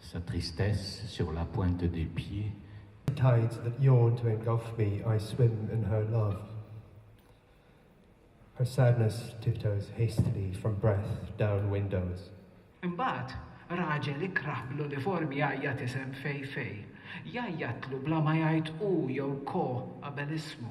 Sa tristesse sur la pointe des pieds. The tides that yawn to engulf me I swim in her love Her sadness tiptoes hastily from breath down windows. Imbagħad raġel ikrah bl-uniform jgħajjat isem Fei Fei. Jgħajjatlu bla ma jgħid hu jew ko qabel ismu.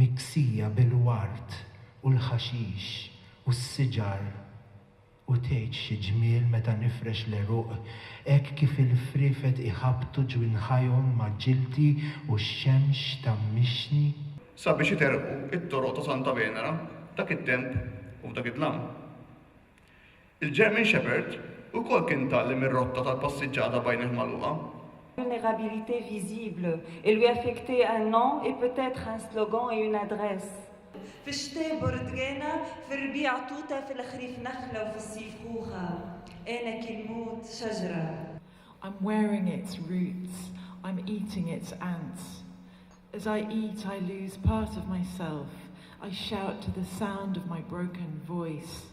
miksija bil-ward u l-ħaxix u s-siġar u tgħid xi ġmiel meta nifrex l-għeruq hekk kif il-friefet iħabbtu ġwinħajhom ma' ġildi u x-xemx tgħammixni. Sabiex iterqu t-toroq ta' Santa Venera f'dak it-temp u f'dak id-dlam. Il-German Shepherd ukoll kien ta' li mir-rotta tal-passiġġata b'għajnejh magħluqa. Vulnerabilité visible, il lui affecter un nom et peut-être un slogan et une adresse. Fix-xteh burdgena, fir-rbiegħa tuta, fil-ħrif naħla u fis-sif ħuħa. Għenek il-mut, xaġra. I'm wearing its roots, I'm eating its ants. As I eat I lose part of myself, I shout to the sound of my broken voice.